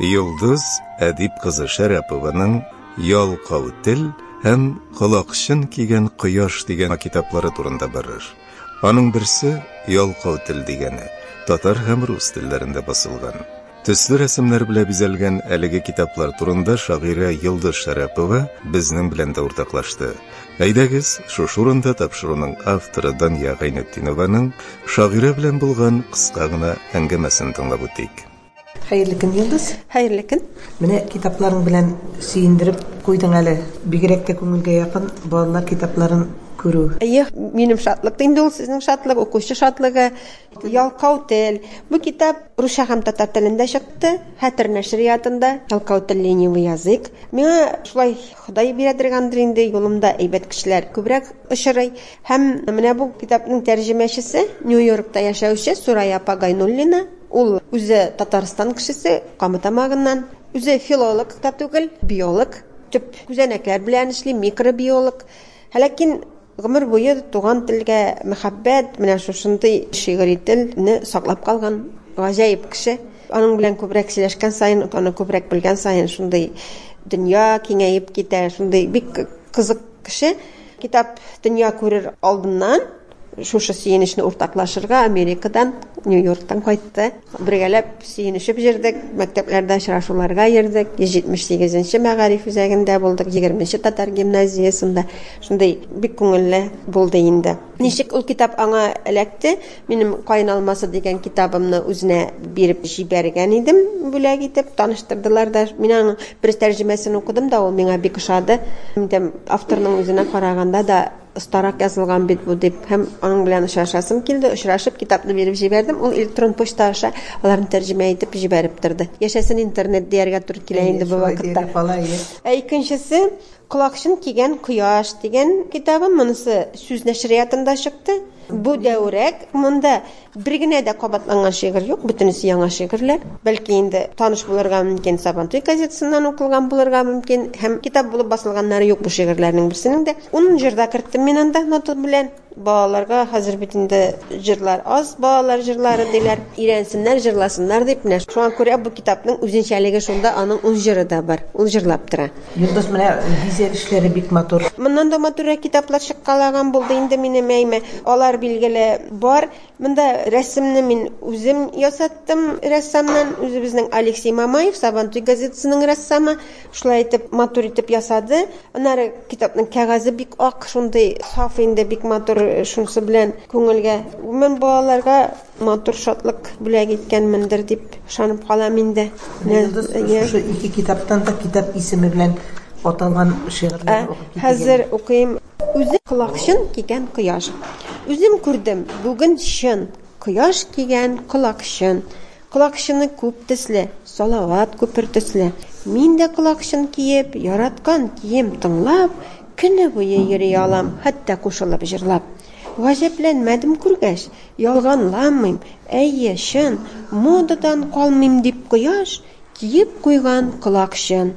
Йолдыз Әдип кызы Шәрәпованың Ялкау тел һәм Колакчын кигән кояш дигән китаплары турында барыр. Аның берсе Ялкау тел дигәне, татар һәм рус телләрендә басылган. Төсле рәсемнәр белән бизәлгән әлеге китаплар турында шагыйрә Йолдыз Шәрәпова безнең белән дә уртаклашты. Әйдәгез, шушы урында тапшыруның авторы Дания Гайнетдинованың шагыйрә белән булган кыска гына әңгәмәсен тыңлап үтик. Хәерле көн, Йолдыз. Хәерле көн. Менә китапларың белән сөендереп куйдың әле. Бигрәк тә күңелгә якын балалар китапларын күрү. Әйе, минем шатлык инде ул, сезнең шатлык, укучы шатлыгы. Ялкау тел. Бу китап русча һәм татар телендә чыкты. Хәтер нәшриятында. Ялкау тел, ленивый язык. Миңа шулай Ходай бирәдер гандыр инде, юлымда әйбәт кешеләр күбрәк очрый. Һәм менә бу китапның тәрҗемәчесе, Нью-Йоркта яшәүче Сурая апа Гайнуллина. Ул үзе Татарстан кешесе, Кама Тамагыннан. Үзе филолог та түгел, биолог. Төп күзәнәкләр белән эшли, микробиолог. Ләкин гомер буе туган телгә мәхәббәт, менә шушындый шигъри телне саклап калган гаҗәеп кеше. Аның белән күбрәк сөйләшкән саен, аны күбрәк белгән саен, шундый дөнья киңәеп китә, шундый бик кызык кеше. Китап дөнья күрер алдыннан шушы сөенечне уртаклашырга Америкадан, Нью-Йорктан кайтты. Бергәләп сөенешеп җөрдек, мәктәпләрдә очрашуларга йөрдек. 178-нче мәгариф үзәгендә булдык, 20-нче татар гимназиясендә. Шундый бик күңелле булды инде. Ничек ул китап аңа эләкте? Минем Каен алмасы дигән китабымны үзенә биреп җибәргән идем, бүләк итеп, таныштырдылар да. Мин аның бер тәрҗемәсен укыдым да, ул миңа бик ошады. Әйтәм, авторның үзенә караганда да остарак язылган бит бу дип, һәм аның белән очрашасым килде. Очрашып, китапны биреп җибәрдем. Ул электрон почта аша аларны тәрҗемә итеп җибәреп торды. Яшәсен интернет, дияргә туры килә инде бу вакытта. Ә икенчесе, Колакчын кигән кояш дигән китабым, монысы Сүз нәшриятында чыкты. Бу дәүрәк, монда бер генә дә кабатланган шигырь юк, бөтенесе яңа шигырьләр. Бәлки инде таныш булырга мөмкин, Сабантуй газетасыннан укылган булырга мөмкин һәм китап булып басылганнары юк бу шигырьләрнең берсенең дә. Ун җыр да керттем мин анда нота белән. Балаларга хәзер бит инде җырлар аз, балалар җырлары диләр. Өйрәнсеннәр, җырласыннар дип, менә шуңа күрә бу китапның үзенчәлеге шунда, аның үз җыры да бар, ул җырлап тора. Йолдыз, менә бизәк эшләре бик матур. Моннан да матуррак китаплар чыккалаган булды инде минем әйме. Алар, билгеле, бар. Монда рәсемне мин үзем ясаттым рәссамнан, үзебезнең Алексей Мамаев, Сабантуй газетасының рәссамы. Шулай итеп, матур итеп ясады. Аннары китапның кәгазе бик ак, шундый саф инде, бик матур, шунысы белән күңелгә, гомумән, балаларга матур шатлык бүләк иткәнмендер дип ышанып калам инде. Йолдыз, шушы ике китаптан да китап исеме белән аталган шигырьләр укып китегез. Хәзер укыйм. Үзе колакчын кигән кояш. Үзем күрдем, бүген чын, кояш кигән колакчын. Колакчыны күп төсле, Салават күпер төсле. Мин дә колакчын киеп, Яраткан кием тыңлап, Көне буе йөри алам, Хәтта кушылып җырлап. Гаҗәпләнмәдем күргәч, Ялганламыйм, әйе, чын, Модадан калмыйм дип кояш Киеп куйган колакчын.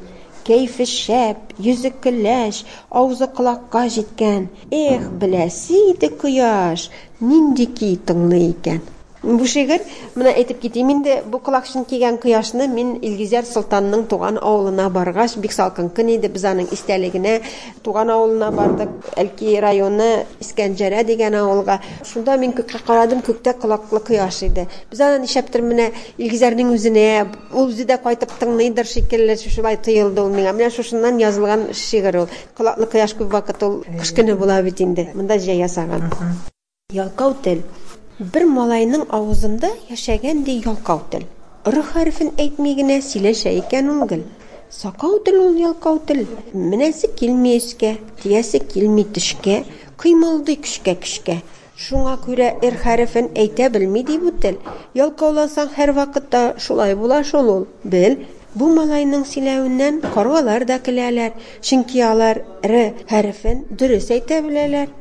Кәефе шәп, йөзе көләч, Авызы колакка җиткән. Эх, беләсе иде кояш Нинди көй тыңлый икән. Бу шигырь, менә әйтеп китим инде, бу колакчын кигән кояшны мин Илгизәр солтанның туган авылына баргач, бик салкын көн иде, без аның истәлегенә туган авылына бардык, Әлки районы Искәнҗәрә дигән авылга. Шунда мин күккә карадым, күктә колаклы кояш иде. Без аны нишләптер менә Илгизәрнең үзенә, ул үзе дә кайтып тыңлыйдыр шикелле, шулай тоелды ул миңа. Менә шушыннан язылган шигырь ул. Колаклы кояш күп вакыт ул кыш көне була бит инде, монда җәй ясаган. Ялкау тел. Бер малайның авызында яшәгән ди ялкау тел. Р хәрефен әйтми генә сөйләшә икән ул гел. Сакау тел ул ялкау тел. Менәсе килми өскә, тиясе килми төшкә, кыймылдый көчкә-көчкә. Шуңа күрә р хәрефен әйтә белми ди бу тел. Ялкаулансаң һәрвакытта шулай була шул ул. Бел, бу малайның сөйләвеннән каргалар да көләләр, чөнки алар р хәрефен дөрес әйтә беләләр.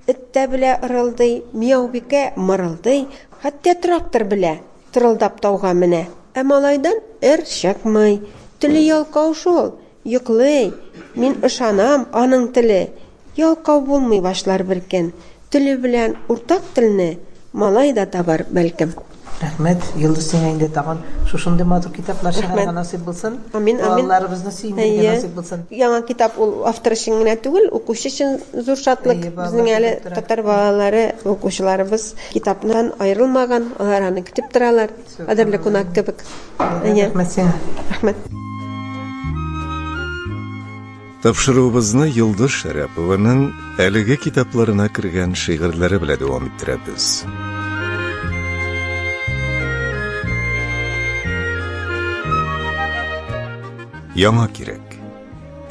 Эт тә белә ырылдый, Мияубикә мырылдый, Хәтта трактор белә, Тырылдап тауга менә. Ә малайдан эр чыкмый, Теле ялкау шул, йоклый, Мин ышанам, аның теле Ялкау булмый башлар беркөн. Теле белән уртак телне Малай да табар, бәлкем. Рәхмәт, Йолдыз, сиңа инде тагын шушындый матур китаплар чыгарырга насыйп булсын. Амин, амин. Балаларыбызны сөендерергә насыйп булсын. Яңа китап ул автор өчен генә түгел, укучы өчен зур шатлык. Безнең әле татар балалары, укучыларыбыз китаптан аерылмаган, алар аны көтеп торалар. Кадерле кунак кебек. Рәхмәт сиңа. Рәхмәт. Тапшыруыбызны Йолдыз Шәрәпованың әлеге китапларына кергән шигырьләре белән дәвам иттерәбез. Яңа кирәк.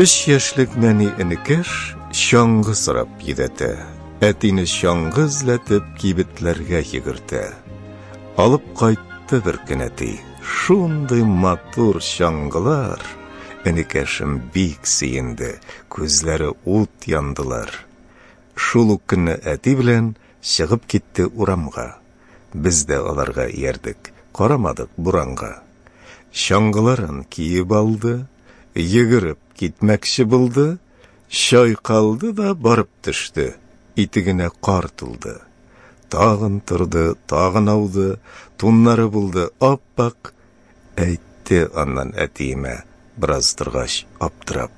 Өч яшьлек нәни энекәш чаңгы сорап йөдәтә. Әтине чаңгы эзләтеп кибетләргә йөгертә. Алып кайтты бер көн әти. Шундый матур чаңгылар! Энекәшем бик сөенде, күзләре ут яндылар. Шул ук көнне әти белән чыгып китте урамга. Без дә аларга иярдек, карамадык буранга. Чаңгыларын киеп алды, йөгереп китмәкче булды, чайкалды да барып төште, итегенә кар тулды. Тагын торды, тагын ауды, туннары булды ап-ак, Әйтте аннан әтиемә бераз торгач, аптырап.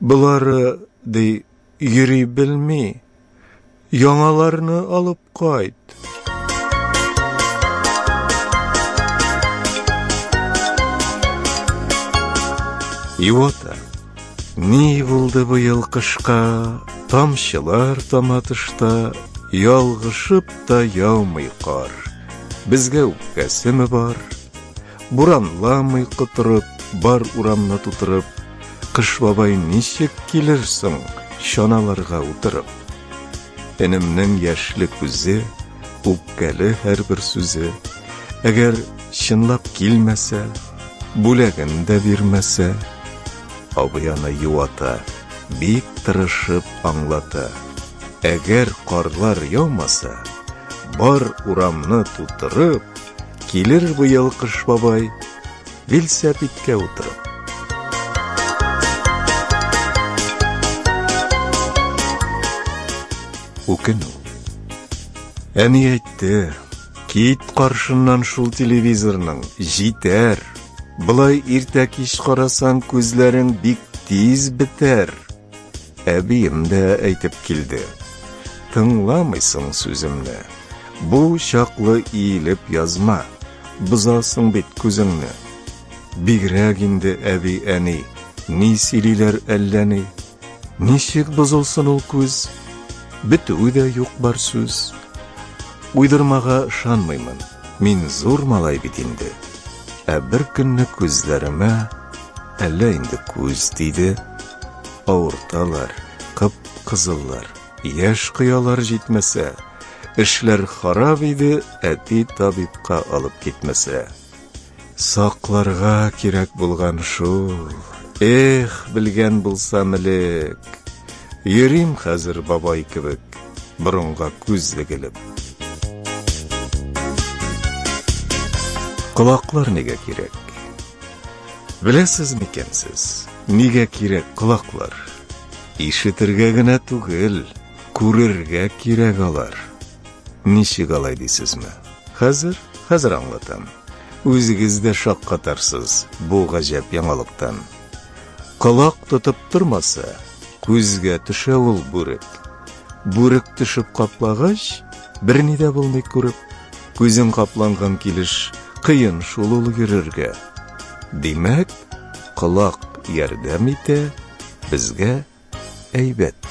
Болары, ди, йөри белми. Яңаларны алып кайт. Юата. Ни булды бу ел кышка? Тамчылар тама тышта, ялгышып та яумый кар. Безгә үпкәсеме бар? Буранламый котырып, бар урамны тутырып, Кыш бабай ничек килер соң, чаналарга утырып? Энемнең яшьле күзе, үпкәле һәрбер сүзе, Әгәр чынлап килмәсә, бүләген дә бирмәсә, Абый аны юата, бик тырышып аңлата. Әгәр карлар яумаса, бар урамны тутырып, килер быел Кыш бабай, велосипедкә утырып. Үкенү. Әни әйтте, кит каршыннан шул телевизорның, җитәр. Былай иртә кич карасаң, күзләрең бик тиз бетәр. Әбием дә әйтеп килде. Тыңламыйсың сүземне. Бу чаклы иелеп язма. Бозасың бит күзеңне. Бигрәк инде әби әни, ни сөйлиләр әллә ни. Ничек бозылсын ул күз? Бетүе дә юк бар сүз. Уйдырмага ышанмыймын. Мин зур малай бит инде. Ә бер көнне күзләремә әллә инде күз тиде. Авырталар, кып-кызыллар. Яшь кыялар җитмәсә, эшләр харап иде, әти табибка алып китмәсә. Сакларга кирәк булган шул. Эх, белгән булсам элек. Йөрим хәзер бабай кебек, борынга күз егелеп. Колаклар нигә кирәк? Беләсез микән сез, нигә кирәк колаклар? Ишетергә генә түгел, күрергә кирәк алар. Ничек алай дисезме? Хәзер, хәзер аңлатам. Үзегез дә шаккатарсыз бу гаҗәп яңалыктан. Колак тотып тормаса, күзгә төшә ул бүрек. Бүрек төшеп каплагач, берни дә булмый күреп, күзең капланган килеш, кыен шул ул йөрергә. Димәк, колак ярдәм итә безгә әйбәт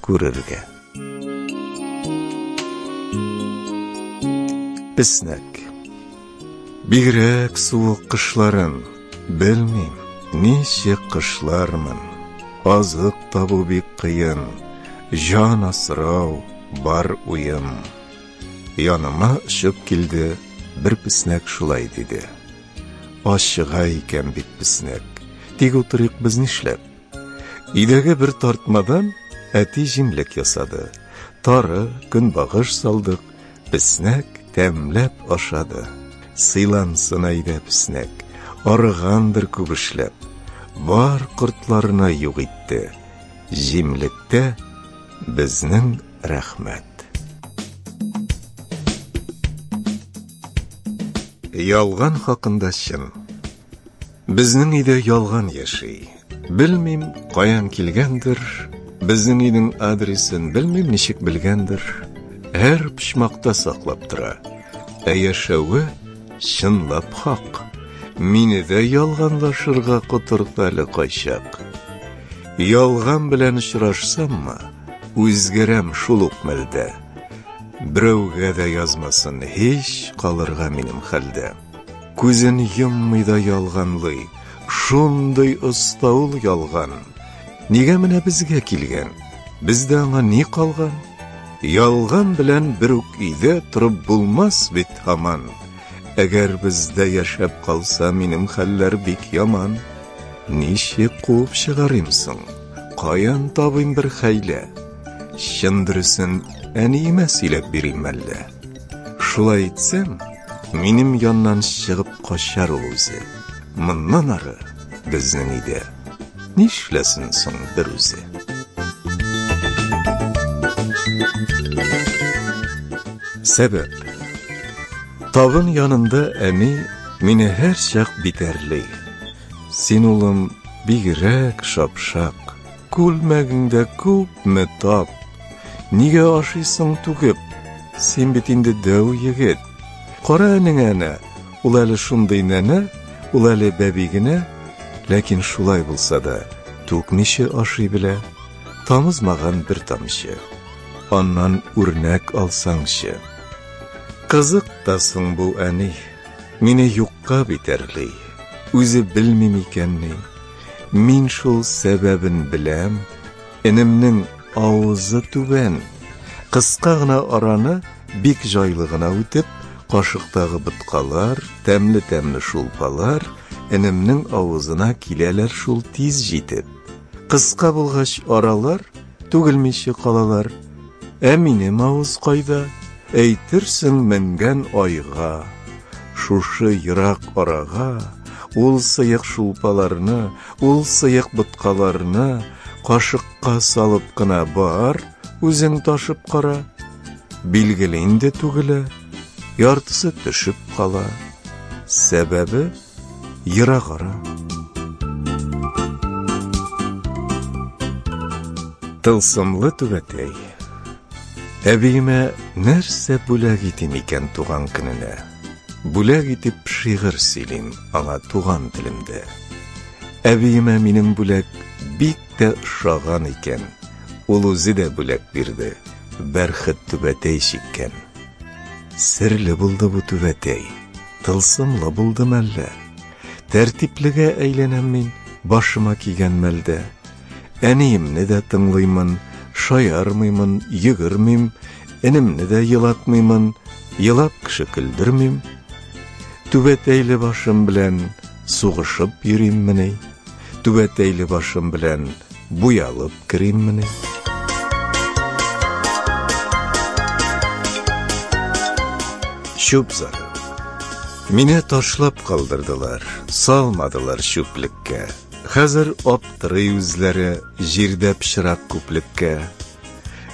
күрергә. Песнәк. Бигрәк суык кышларын белмим, ничек кышлармын. Азык табу бик кыен, җан асрау бар уем. Яныма очып килде бер песнәк шулай диде. Ачыга икән бит песнәк, тик утырыйк без нишләп? Өйдәге бер тартмадан әти җимлек ясады. Тары, көнбагыш салдык, песнәк тәмләп ашады. Сыйлансын әйдә песнәк, арыгандыр күп эшләп. Бар кортларына юк итте. Җимлектә безнең Рәхмәт. Ялган хакында чын. Безнең өйдә ялган яши. Белмим, каян килгәндер. Безнең өйнең адресын белмим, ничек белгәндер. Һәр почмакта саклап тора. Ә яшәве чынлап хак. Мине дә ялганлашырга котырта әле кайчак. Ялган белән очрашсаммы? Үзгәрәм шул ук мәлдә. Берәүгә дә язмасын һич калырга минем хәлдә. Күзен йоммый да ялганлый, шундый оста ул ялган. Нигә менә безгә килгән? Бездә аңа ни калган? Ялган белән бер үк өйдә торып булмас бит һаман. Әгәр бездә яшәп калса, минем хәлләр бик яман. Ничек куып чыгарыйм соң? Каян табыйм бер хәйлә? Чын дөресен әниемә сөйләп бирим әллә? Шулай итсәм, минем яннан чыгып качар ул үзе. Моннан ары безнең өйдә Нишләсен соң бер үзе? Сәбәп. Тавын янында әни мине һәр чак битәрли. Син улым бигрәк шапшак, күлмәгеңдә күпме тап. Нигә ашыйсың түгеп? Син бит инде дәү егет. Кара әнеңә Ул әле шундый нәнә, ул әле бәби генә, ләкин шулай булса да, түкмичә ашый белә, тамызмаган бер тамчы. Аннан үрнәк алсаңчы. Кызык та соң бу әни, мине юкка битәрли, үзе белми микәнни, мин шул сәбәбен беләм, Энемнең авызы түбән. Кыска гына араны бик җайлы гына үтеп, кашыктагы боткалар, тәмле-тәмле шулпалар энемнең авызына киләләр шул тиз җитеп. Кыска булгач аралар түгелмичә калалар. Ә минем авыз кайда? Әйтерсең менгән айга. Шушы ерак арага ул сыек шулпаларны, ул сыек боткаларны Кашыкка салып кына бар, үзең ташып кара. Билгеле инде түгелә, яртысы төшеп кала. Сәбәбе ерагара. Тылсымлы түбәтәй. Әбиемә нәрсә бүләк итим икән туган көненә? Бүләк итеп шигырь сөйлим аңа туган телемдә. Әбиемә минем бүләк бик тә ошаган икән. Ул үзе дә бүләк бирде, бәрхет түбәтәй чиккән. Серле булды бу түбәтәй, тылсымлы булды мәллә. Тәртиплегә әйләнәм мин, башыма кигән мәлдә. Әниемне дә тыңлыймын, шаярмыймын, йөгермим, энемне дә елатмыймын, елап кеше көлдермим. Түбәтәйле башым белән сугышып йөриммени? Түбәтәйле башым белән буялып кериммени? Чүп зары. Мине ташлап калдырдылар, салмадылар чүплеккә. Хәзер аптырый үзләре җирдә пычрак күплеккә.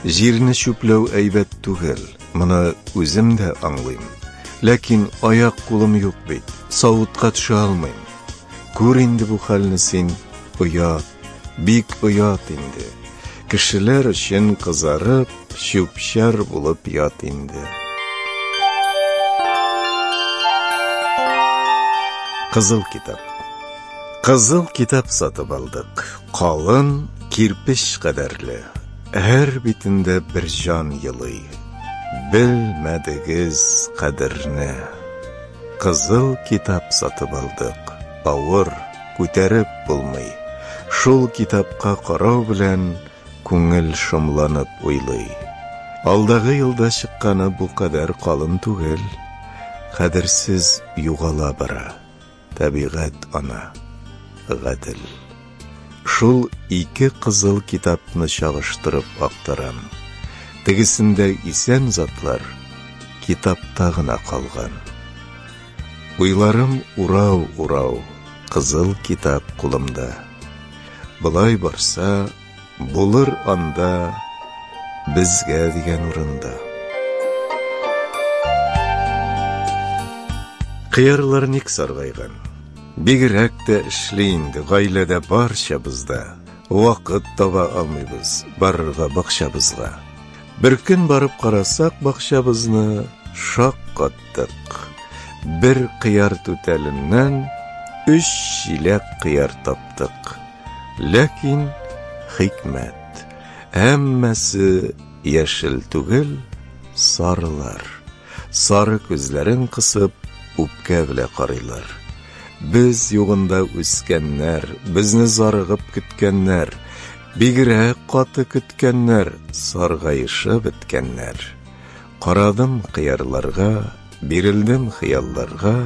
Җирне чүпләү әйбәт түгел, моны үзем дә аңлыйм. Ләкин аяк-кулым юк бит, савытка төшә алмыйм. Күр инде бу хәлне син, оят, бик оят инде. Кешеләр өчен кызарып, чүп-чар булып ят инде. Кызыл китап. Кызыл китап сатып алдык. Калын, кирпеч кадәрле. Һәр битендә бер җан елый. Белмәдегез кадерне. Кызыл китап сатып алдык. Авыр, күтәреп булмый. Шул китапка карау белән күңел шомланып уйлый. Алдагы елда чыкканы бу кадәр калын түгел. Кадерсез югала бара. Табигать ана, гадел. Шул ике кызыл китапны чагыштырып актарам. Тегесендә исән затлар китапта гына калган. Уйларым урау-урау, кызыл китап кулымда. Былай барса, Булыр анда безгә дигән урында. Кыярлар ник саргайган? Бигрәк тә эшли инде гаиләдә барчабызда. Вакыт таба алмыйбыз барырга бакчабызга. Бер көн барып карасак бакчабызны шаккаттык. Бер кыяр түтәленнән өч чиләк кыяр таптык. Ләкин хикмәт, әммәсе яшел түгел, сарылар. Сары күзләрен кысып, үпкә белә карыйлар. Без югында үскәннәр, безне зарыгып көткәннәр, бигрәк каты көткәннәр, саргаешып беткәннәр. Карадым кыярларга, бирелдем хыялларга,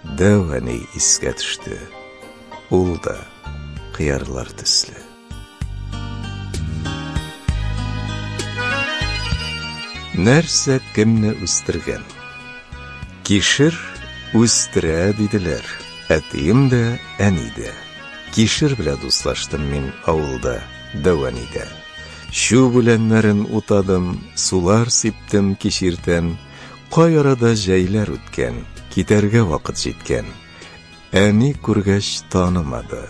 Дәү әни искә төште. Ул да кыярлар төсле. Нәрсә кемне үстергән? Кишер үстерә диделәр. Әтием дә, әни дә. Кишер белән дуслаштым мин авылда, Дәвәнидә. Чү үләннәрен утадым, сулар сиптем кишертән, Кай арада җәйләр үткән, Китәргә вакыт җиткән. Әни күргәч танымады.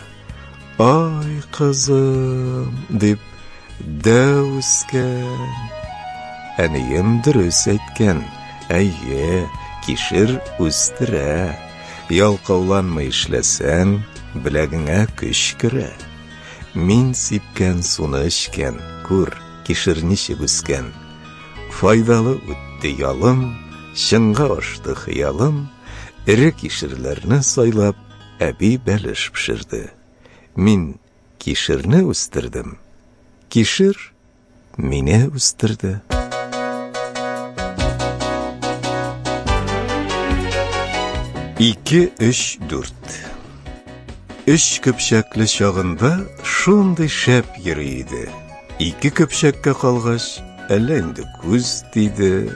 Ай, кызым, дип, дәү үскән. Әнием дөрес әйткән. Әйе, кишер үстерә. Ялкауланмый эшләсәң, беләгеңә көч керә. Мин сипкән суны эчкән, күр, кишер ничек үскән. Файдалы үтте ялым, Чынга ашты хыялым, Эре кишерләрне сайлап, Әби бәлеш пешерде. Мин кишерне үстердем, Кишер мине үстерде. Ике, өч, дүрт Өч көпчәкле чагында Шундый шәп йөри иде. Ике көпшәккә калгач, әллә инде күз тиде.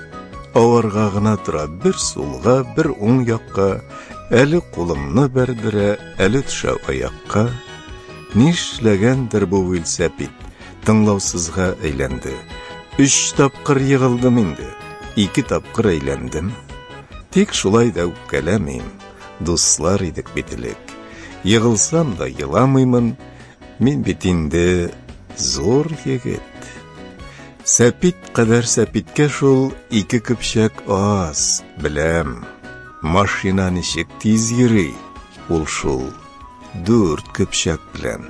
Аварга гына тора, бер сулга, бер уң якка, әле кулымны бәрдерә, әле төшә аякка. Нишләгәндер бу вилсәпит, тыңлаусызга әйләнде. Өч тапкыр егылдым инде, ике тапкыр әйләндем. Тик шулай да үпкәләмим, дуслар идек бит элек. Егылсам да еламыймын, Мин бит инде зур егет. Сәпит кадәр сәпиткә шул ике көпчәк аз, беләм. Машина ничек тиз йөри, ул шул дүрт көпчәк белән.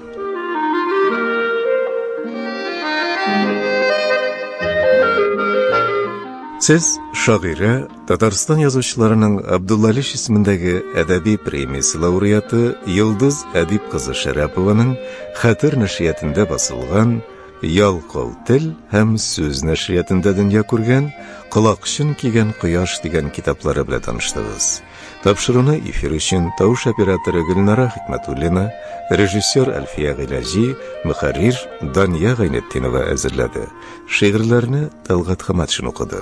Сез шагыйрә Татарстан язучыларының Абдулла Лиш исемендәге әдәби премиясе лауреаты Йолдыз Әдип кызы Шәрәпованың Хәтер нәшриятендә басылган Ялкау тел һәм сүз нәшриятендә дөнья күргән Колакчын кигән кояш дигән китаплары белән таныштыгыз. Тапшыруны эфир өчен тавыш операторы Гөлнара Хикмәтуллина, режиссер Әлфия Гыйләҗи, мөхәррир Дания Гайнетдинова әзерләде. Шигырьләрне Талгат Хаматшин укыды.